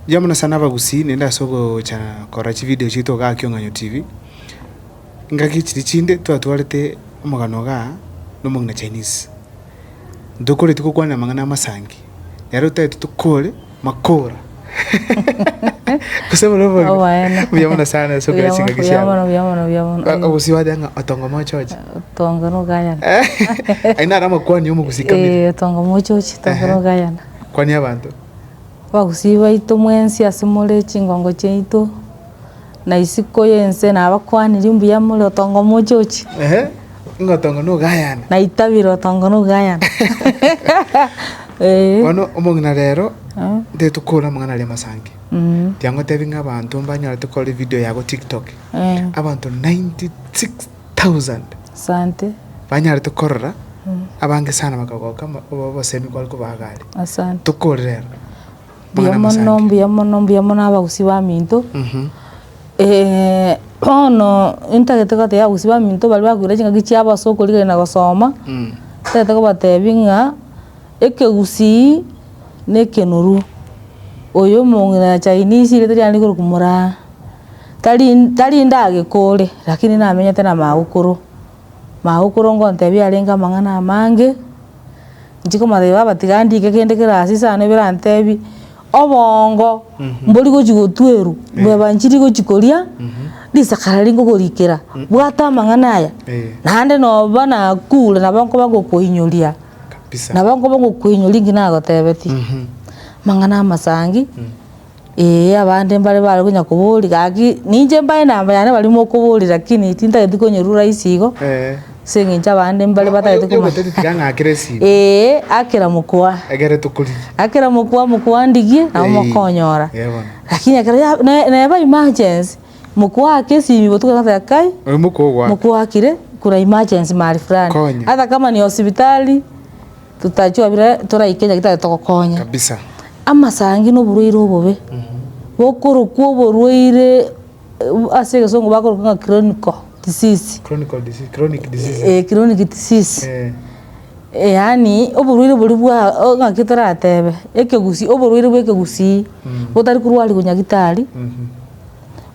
Mbuya mono sana abagusii, nende ase ogocha korora chivideo chiaito igaa Kiong'anyo TV. Engaki chiria chinde twatwarete omogano igaa na omong'ina Chinese. Ntokoreti gokwana amang'ana amasangi. Nere otaete tokore makora. Gose buna obogima. Oboene. Buya mono sana ase okora chingaki Buya chiabo. mono, buya mono, buya mono. Ba- Obosie bateba ng'a otongo mochoche. Otongo nogayana. Aye naro amakwani omogusii kabere. Eh, otongo mochochi, otongo Ehe. nogayana. Kwani abanto. Abagusii baito mwensi ase more chingongo chiaito. na isiko y'ense nabakwanire mbuya more otongo mochochi. Ehe, ng'a otongo nogayane. Na itabire otongo nogayane. Eh. Bono omong'ina rero Ah. nte tokora amang'ana aria masangi Mm. tiga ngotebi ng'a abanto mbanyore tokore video yago tiktok Eh. abanto 96000 Asante. banyarete korora abange sana bakagoka mo- obo- obosemi kware kobaga are Asante. tokore rero Mbuya mono, mbuya mono, mbuya mono abagusii baminto, bono ntagete kotebia abagusii baminto baria bakoira chingaki chiabo ase okorigereria na gosoma, ntagete kobatebia ng'a ekegusii na ekenorwa, oyo omong'ina chinese rieta riane rikorokwa moraa, tari tari ndagekore lakini namenyete na magokoro, magokoro ngotebia arenge amang'ana amange. Nchikomotebia baba tiga ndike kende kere ase isano ebirantebi, obongo mbori gochi gotwerwa, bweba nchiri gochi koria, risaka riria nkogorikera, bwata amang'ana aya, naende noba nakure nabo nkoba ngokoinyoria, nabo nkoba ngokoinyoria nki nagotebetie. Amang'ana amasangi. Ee, abande mbare bare konya koboria, gaki ninche mbare namba yane baria mokoboria lakini tintageti konyorwa rahisi igo, Eh. ase eng'encho abande mbare batagete koma- Yogoteti tiga ng'a akere esiri. Ee, akera mokoa, Egere tokorire. akera mokoa mokoa ndigie, nabo Eyii. mokonyora. Ee bono. Lakini ekero ya- ne- neba emergency, mokoa ake esimi botuko togoteeba kai, Oyo mokoa ogwaka. mokoa akire, kuna emergency mahali fulani. Konya. Ata kama ni hospitali. Totachie obire toraike eria gitari togokonya. Kabisa. Amasangi na oborwaire obobe, bokorokwa oborwaire ase egesongo bakoroka ng'a chronical disease. Chronical disease, chronic diseases. Eeh chronic disease. Eeh. Yaani oborwaire boria bwa o ng'aki toratebe, ekegusii, oborwaire bwa ekegusii. Botari korwarirwa nyagitari,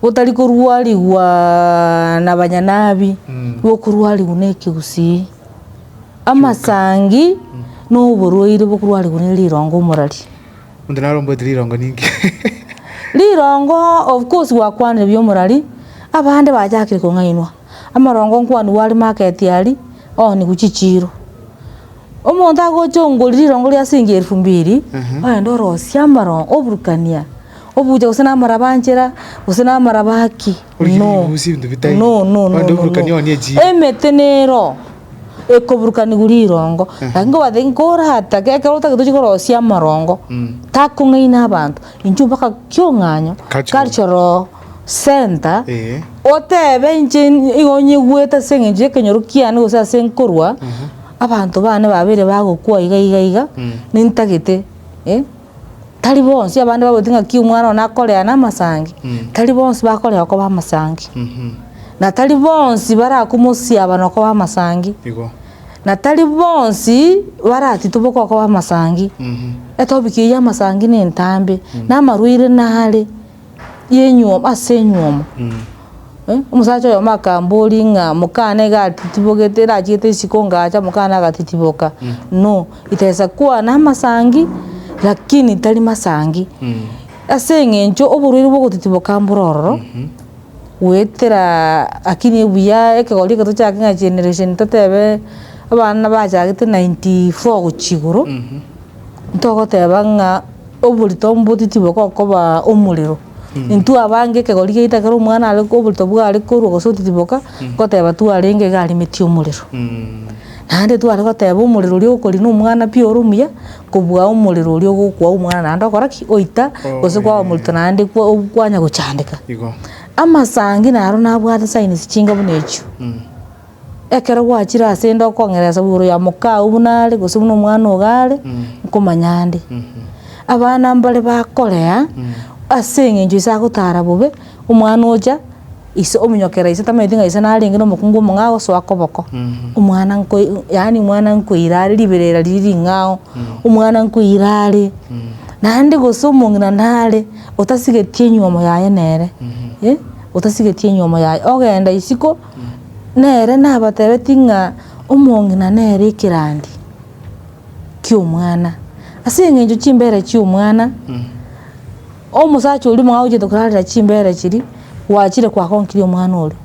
botari korwarigwaa na banyanabi, bokorwarigwa na ekegusii. Amasangi noborwaire bokorwarigwa ne rirongo omorari. Monto naromboete rirongo ninki? Rirongo of course gwakwanire buya omorari, abande bachakire kong'ainwa, amarongo nkwanigwe are market aria oonigwe chichiiro. Omonto agocha ongori rirongo ria siringi elfu mbiri, ogende orosie amarongo oburukanie, obuche gose namarabanchera gose namaraba ki. Emete nero ekoburukanigwa rirongo, lakini nkobwate nkoratake ekero otagete gochia korosia amarongo, takong'aina abanto, intwe mpaka kiong'anyo, culture oo, center, otebe inche nigo onyegwete ase eng'encho y'ekenyoro kiane gose ase nkorwa, abanto bane babere bagokwa iga iga iga, nintagete. tari bonsi abande bagoteba ng'aki omwana one akorea namasangi, tari bonsi bakoreo koba amasangi, na tari bonsi barakomosiaba nokoba amasangi, Igo. na tari bonsi baratitoboke okoba amasangi. Etopic eye y'amasangi na entambe, na amarwaire nare. yenyuoma ase enyuomo, omosacha oyomo akamboria ng'a mokana iga atitibogete erachete isiko ingacha mokana agatitiboka, no ritesa kwana amasangi lakini tari masangi, ase eng'encho oborwaire bwa ogotitiboka mboro ororo, goeteraaa akini ebuya ekegori eke tochake ng'a generation totebe abana nabachagete ninety four gochia igoro. Ntogoteba ng'a oborito mboti tibogokobaa omorero, intwe abange ekegori giaito ekero omwana are oborito bware korwa gose otiboka, goteba twarenge iga arimetie omorero. Naende tware goteba omorero oria okorina omwana pi ore omuya, kobua omorero oria ogokwa omwana naende okora ki? Oita gose kwaba oborito naende kwa kwanya gochandeka. Amasangi naro nabwate signs chinga buna echio. Ekero gwachire ase 'nde okong'eresa igoro ya moka oo buna are, gose buna omwana ogo are, nkomanya nde. Abana mbare bakorea, ase eng'encho ise agotara bobe, omwana ocha, ise ominyokera ise tamanyeti ng'a ise narenge na omokungu omong'ao agosoa koboko, omwana nkoi yaani omwana nkoira are riberera riria ring'ao, omwana nkoira are, naende gose omong'ina nare, otasigeti enyomo yaye nere, otasigetie enyomo yaye, ogenda isiko. Nere nabatebetie ng'a omong'ina nere ekerandi ki'omwana. Ase engencho chimbera chi'omwana, omosacha oria mwagochenete korarera chimbera chiria, gwachire kwagonkirie omwana oria.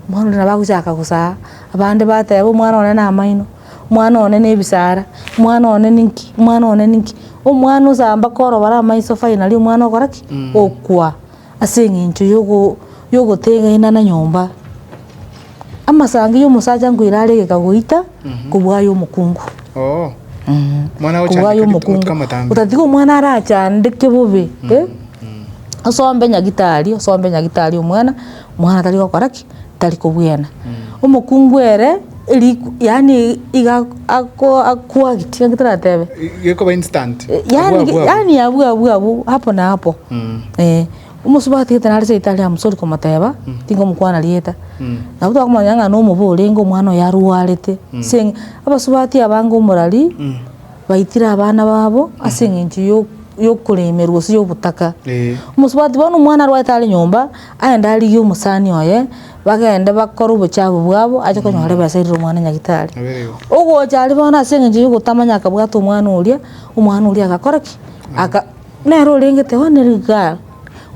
Omwana oria nabo agochaka gosaga, abande bateba omwana one namaino, omwana one nebisara, omwana one ninki, omwana one ninki. Omwana osa mpaka orobare amaiso finally omwana ogokora ki? Okwa. Ase engencho yogotegenena na nyomba, amasangi yomosacha nkoira are egeka goita kobua aye omokungu. Kobua aye omokungu. Otatiga omwana arachandeke bobe. Osombe nyagitari, osombe nyagitari omwana, omwana tari gokora ki? tari kobwena. Omokungu ere eriku yaani iga ako akuagit gaki toratebe. Gekoba instant. Eh, Abwo, yaani abwo, abwo. yaani abwo abwo abwo hapo na hapo Mm. eh omosubaati gete nare seita aria mosori komoteba tingomokwana rieta nabo twakomanya ng'a nomobe orenge omwana oyo arwarete seng' abasubati abange omorari baitire abana babo ase eng'encho yo- yokoremerwa gose yobotaka Eh. omosubati bono omwana arwarete are nyomba. Aye ndarigie omosani oye bagende bakore obochafu bwabo ache konyora ebesa erire omwana nyagitari. Ogocha aria bono ase engencho yogotamanya akabwata omwana oria, omwana oria agakora ki? Aka nere orengete oo nere igaa.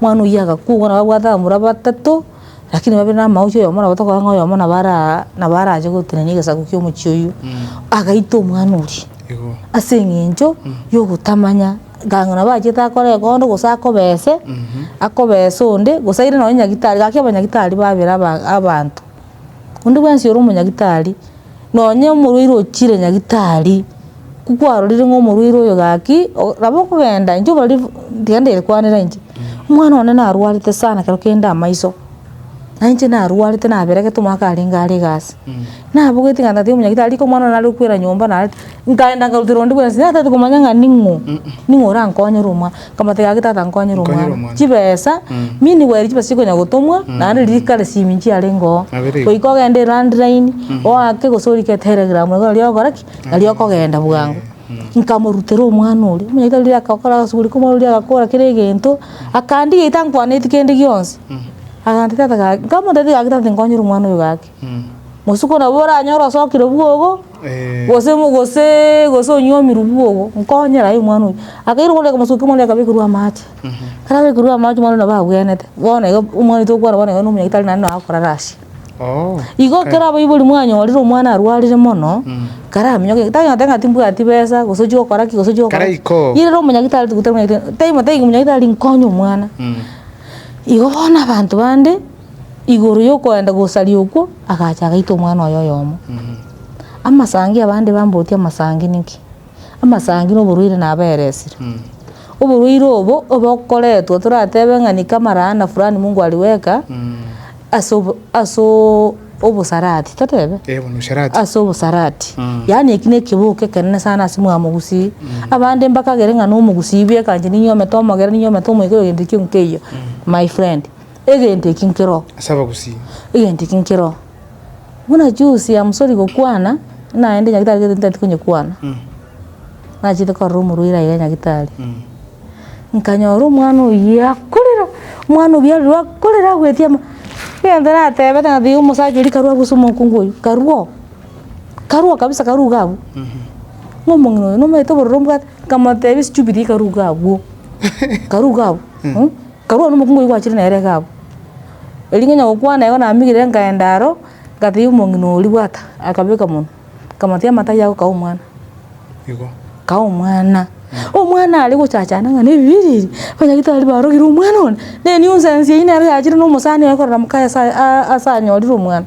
Omwana oyio agakwa bono babwate abamura batato, lakini babere na amagoso oyomo nabo tokorora ng'a oyomo nabo araa nabo arache gotenenia egesaku kia omochie oyio. Agaita omwana oria ase engencho yogotamanya Gaki nabo achete akore ekondo gose akobese, akobese onde, gose aire nonye nyagitari, gaki abanyagitari babere aba- abanto. Onde bwensi ore omonyagitari, nonye omorwaire ochire nyagitari, ku- kwarorire ng'a omorwaire oyo gaki, o- nabo okogenda intwe obarire tiga ndere kwanera inche, omwana one narwarete sana ekero kende amaiso. Na inche narwarete naberegete omwaka arenge are egasi, nabogete ng'a tata omonyakeri tari omwana one nare kokwera nyomba narete, nkaenda nkaruterwa onde bwensi natete komanya ng'a ning'o, ning'o orankonyere omwana, nkamotebia gaki tata nkonyera Nkonyera omwana, omwana. chibesa, mini gwaye chibesa chia konya gotomwa, naende riria kare simi nchiarenge oo, Nabere igo. goika ogende elandline, oake gose orike telegram iga riria ogokora ki, nari okogenda bwango. Nkamorutera omwana oria. Omonyaitari oria agakora agasuguri komwana oria agakora kera egento, akandigia itankwaneti kende gionsi. Agantebia tata gaki, nkamotebia gaki tata tinkonyire omwana oyo gaki. Bosuko nabo oranyore osokire bwogo, gose mo goseee gose onyomirwe bwogo, nkonyera aye omwana oyo. Akaira omwana oria akamosukia omwana oria akabekerwa amache. Karabekerwa amache omwana oria nabo agwenerete, bono iga omwana oito okwana bono iga na omonyaitari naende nagokora rasi. Igo ekero abaibori mwanyorire omwana arwarire mono, karamenyoke gete, tari goteba ng'a timbwati besa, gose ochia gokora ki, gose ochia gokora ki. Karaikoo. Niye rero omonyagitari tigo tari omonyagitari, tari motari omonyagitari nkonye omwana. Igo bono abanto bande, igoro ya okoenda gosaria okwo, agacha agaita omwana oye oyomo. Amasangi abande bambogotie amasangi ninki? amasangi na oborwaire nabaeresire. Oborwaire obo obokoretwa toratebe ng'a nika amalaana fulani mungu aliweka ase obo ase oo obosarati totebe? Eh buna usherati. ase obosarati yaani eki nekeboko ekenene sana ase omogika mogusii abande mbakagere ng'a nomogusii bwe ekanche ninyomete omogera ninyomete omoika egento ekio nkeiyo my friend egento eki nkero Ase abagusii. egento eki nkero. Buna juzi amosori gokwana, naende nyagetari gete ntati konyekwana, nachete korora omorwaire aye nyagetari, nkanyora omwana oyio akorera, omwana obi aroro akorera agwetie ama egento natebete ng'a tiga omosacha oria karue abwo ase omokungu oyio, karue oo, karue oo kabisa karuge abwo, ng'a omong'ina oyo nomanyete obororo mbwate, nkamotebia stupid ekaruge abwo, karuge abwo. Nkarua nomokungu oyio gwachire nere iga abwo. Erio ngenya gokwana igo namigire nkaenda aro, ngatebia omong'ina oria, Bwata, akabeka monwe, nkamotebia, Amata ayio ago kaa omwana. Kaa omwana. Omwana are gochachana ng'a na ebibe ebi ebi, onye tari barogire omwana one, ne nuisance eyio nero yachire na omosani oye korora mokaye ase aa ase anyorire omwana.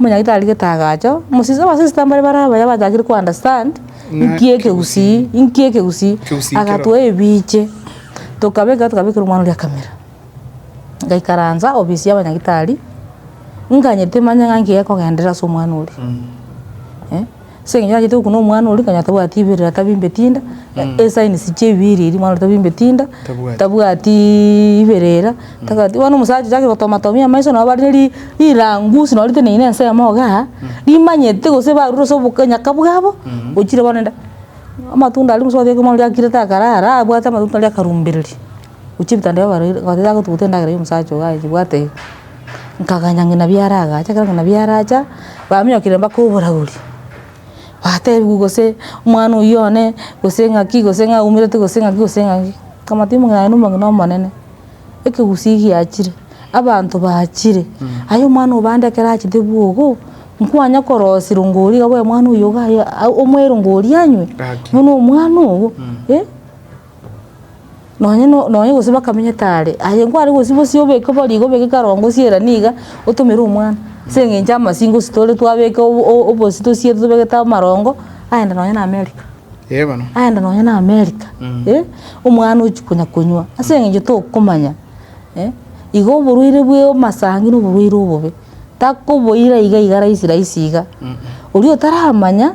Omonyaito arigete agacha, omosista abasista mbare bare abaye abachakire ko understand, nki ekegusii, nki ekegusii, Kegusii kero. agatoa ebiche, tokabeka tokabekera omwana oria camera, ngaikaransa ofisi ya abanyagitari, nganyete manye ng'a nki gekogenderera ase omwana oria. Ase eng'encho achete gokuna omwana oria, okonyora tabwati ibere, atabimbeti inda, esigns chia ebiiri eria, omwana oria tabimbeti inda, Tabwati. tabwatiiii ibere era, tabwati bono omosacha ochake gotoma tomia amaiso nabo bare ri- rirangusi nabo riteneine na ensemo igaa, rimanyete gose barure ase oboka nyaka bwabo, ochire bono rende amatunda aria gose otebe omwana oria akire takarara, abwate amatunda aria akarumbereri, ochie ebitanda bia abarwaire, oteba gotuguta endagera ya omosacha oyo aye nyibwate iga. Nkaganya ng'ina biaragacha, ekero ng'ina biaracha, bamiokire mpaka oboragori, batebiwa gose omwana oyio one, gose ng'aki, gose ng'a aumerete gose ng'aki gose ng'aki, nkabwate timu ng'a aye nomong'ina omonene, ekegusii giachire, abanto bachire, aye omwana obande ekero achete bwogo, nkwanya korosirwa ng'a oria iga bono omwana oyio iga aye omoe rongori anywe, buna omwana ogo. Nonye no- nonye gose bakamenyete are, aye nkware gose bosie obeke bo riga obeke karongo siera niga, otomere omwana, ase eng'encho amasinga gose tore twabeka o- o- obosie tosie tobegete amarongo, aende nonye na america, Ee bono. aende nonye na america, eh, omwana ochia konya konywa, ase eng'encho tokomanya, eh, igo oborwaire bwa amasangi na oborwaire obobe, takoboira iga iga rahisi rahisi iga, oria otaramanya.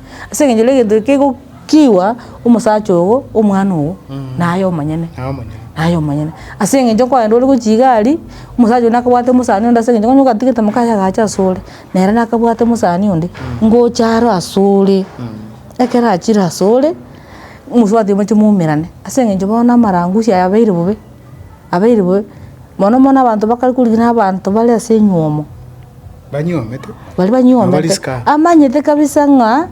Ase eng'encho egento eke kegokiigwa omosacha ogo, omwana ogo, naye omonyene. Naye omonyene. Naye omonyene. Ase eng'encho okoenda ore gochia iga aria, omosacha oria nakabwate omosani onde ase eng'encho onye ogatigete moka aye agacha ase ore, nere nakabwate omosani onde, ngocha aro ase ore, ekero achire ase ore, mosubati moche moumerane, ase eng'encho bono amarangusi aya abeire bobe, abeire bobe, mono mono abanto bakare korigina abanto bare ase enywomo. banyuomete, Baria na banyuomete barisika. amanyete kabisa ng'a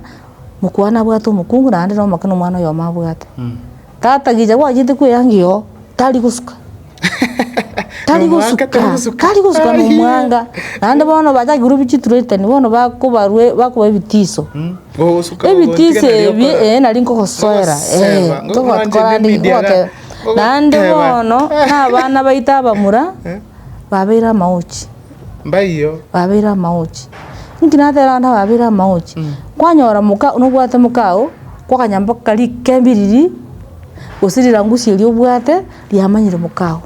mokwana abwate omokungu naende na omoke na omwana oyomo abwate. Tata gicha gwachete kweyangia oo, tari gosuka. Tari Nomwanga, tari gosuka, gosuka. tari gosuka Ai. nomwanga. Naende bono bachaki korwa chitretani bono bakobarwe bakoba ebitiso. Ogosuka Ebitiso ebi eh, nari nkogosoera eh, togo- korande gote- Naende bono na abana baito abamura, babeire amaochi. Mbaiyo. Babeire amaochi. Inki natera abanto ababeire amaochi? Kwanyora moka nobwate mokao, kwa akanyambo karia kembe riria, gose rirangusi eria obwate riamanyire mokao.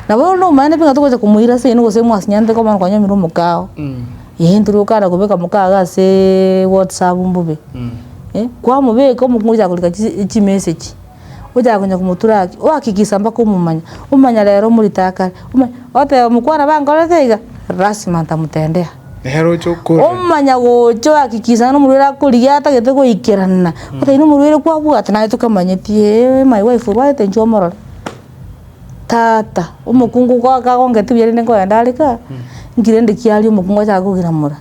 Nabo bono omanyete pi ng'a togocha komoira ase eyene gose mwasinyanete bono kwanyomire omokao, eeh intwe riria okana kobeka omokao iga aseee whatsapp mbobe, eh, kwamobeka omokungu ogocha korika chi- chimessage. ochaka konya komotura haki, ohakikisa mpaka omomanya, omanya rero omorite akare, omanya oteba omokwana bankorete iga, rasima ntamotendea. Nere oche okorera. Omanya gocha ohakikisa ng'a omorwaire akorigia atagete goikerana, otebe na omorwaire kwabwate naye tokamanyeti eeh my wife orwarete inche omorore. Tata, omokungu ko- kagongete buya rende nkoenda are kaa, nki rende kiaria omokungu achake kogiramora,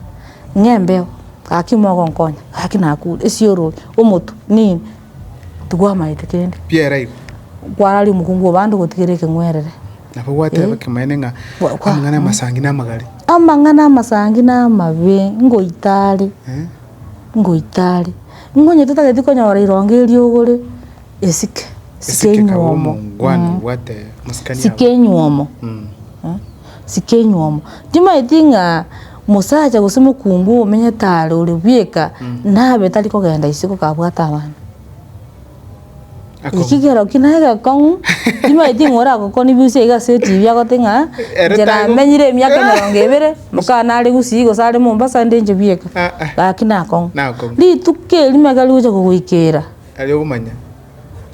ng'a embeo, gaki mogonkonya, gaki nakure, esiorori, omotwe, nini. Tibwamaete kende. Pierre igo. Kwarari omokungu obo ande gotigera ekeng'werere. Nabo gwateba ekemanene ng'a amang'ana amasangi namagare. Amang'ana amasangi namabe ngoita are, ngoita are. Ng'onye totageti konyora erongo eriogore, esike, sike enywomo. Sike enywomo, sike enywomo. Timaeti ng'a. Omosacha gose omokungu omenyete are ore bweka nabe tari kogenda isiko kabwate abana. Eki kero ki naye gekong'u timaeti ng'a oragokoni busia iga ase etv agote ng'a Ere inche taigo- namenyire emiaka emerongo ebere mokana are Gusii gose are Mombasa ande inche bweka. Ah, ah. Gaki nakong'u. Nakong'u. Rituko erimo ekero rigocha kogoikera. Aria ogomanya.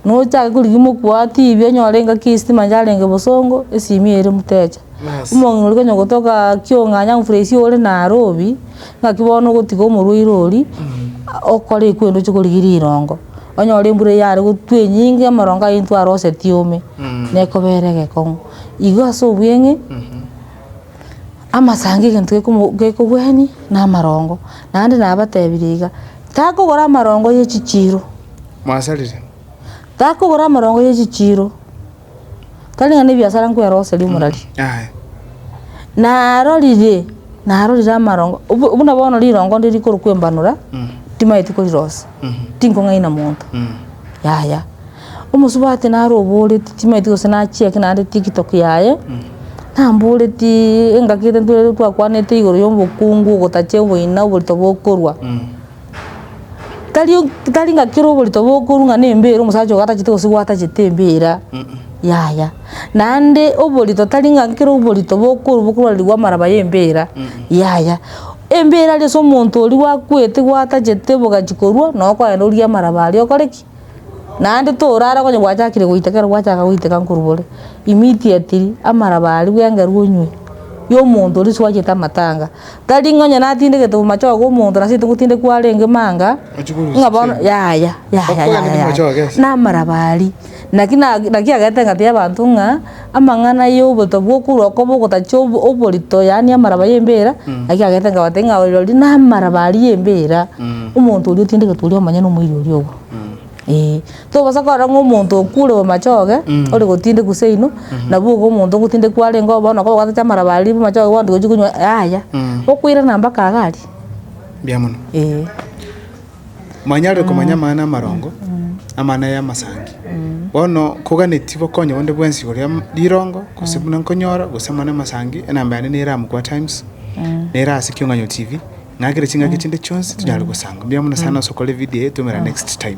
nochake korigia mokwe oo tv onyore engaki ya estima yarenge bosongo esimi eye ere mteja. Bas. Omong'ina oria konya gotoka kiong'anya mfresh ore naro obi, ng'aki bono ogotiga omorwaire oria okore ekwo ende oche korigia rirongo, onyore embura eyio yare gotwa enyinge amorongo ayio intwe aroseti ome, nekobera egekong'u. Igo ase obweng'e, amasango egento gekomo gekogwenia na amarongo, naende nabatebirie iga, takogora amarongo ye chichiro. mwasarire. Takogora amorongo ye chichiiro, tari ng'a nebiasara nkwera ogosaria omorari. Aye. Narorire, narorire amarongo, obo- buna bono rirongo ndiri rikorokwa embanora, timanyeti korirosa, tinkong'aina monto, yaya. Omosubati naro oboreti timanyeti gose nachia ki naende tiktok yaye, namboretii engaki ere ntwerwe twakwanete igoro ya obokungu, ogotacha oboina, oborito bokorwa. tari o tari ng'a kera oborito bokorwa ng'a na embeera omosacha ogo atachete kosigwa atachete embeera, yaya. Naende oborito tari ng'a kera oborito bokorwa bokorwarirwa amaraba ya embeera, yaya. Embeera ase omonto oria gwakwete gwatachete bogachia korwa, noo okogenda orie amaraba aria okore ki? Naende torara konya gwachakire goiteka ekero gwachaka goiteka nkorobore immediately amaraba aria bwengeru onywe yo omonto oria oswachete amatanga tari ng'a onye natindegete omochoge omonto nase togotinda kwarenge manga ng'a bono yaya yaya yaya na amaraba aria naki na naki agete egati y'abanto ng'a. Amang'ana y'oboyto bw'okorwa okobe ogotachia oborito, yaani amaraba y'embira, naki agete nkabatebia ng'a ore rirorio namaraba aria y'embira, omonto oria otindegetwe oria omonyene omoiri oria obo. Ee. Tobaasa korora ng'a omonto okure o machoge, ore gotindekwa seino, nabo igo omonto ogotindekwa kwarenge oo bono okoba ogatachia amaraba aria bu machoge bono togochi konywa, yaya. Okoirana mpaka iga aria. Mbuya mono. Ee. Mwanyarire komanya amang'ana amarongo amana y'amasangi. Bono koganeti bokonye bonde bwensi igoro ya rirongo gose buna nkonyora gose amang'ana amasangi enamba yane nere amo kwa Times nere ase Kiong'anyo TV ng'akere chingaki chinde chionsi tonyare gosanga. Mbuya mono sana ase okora evideo eye twomera next time.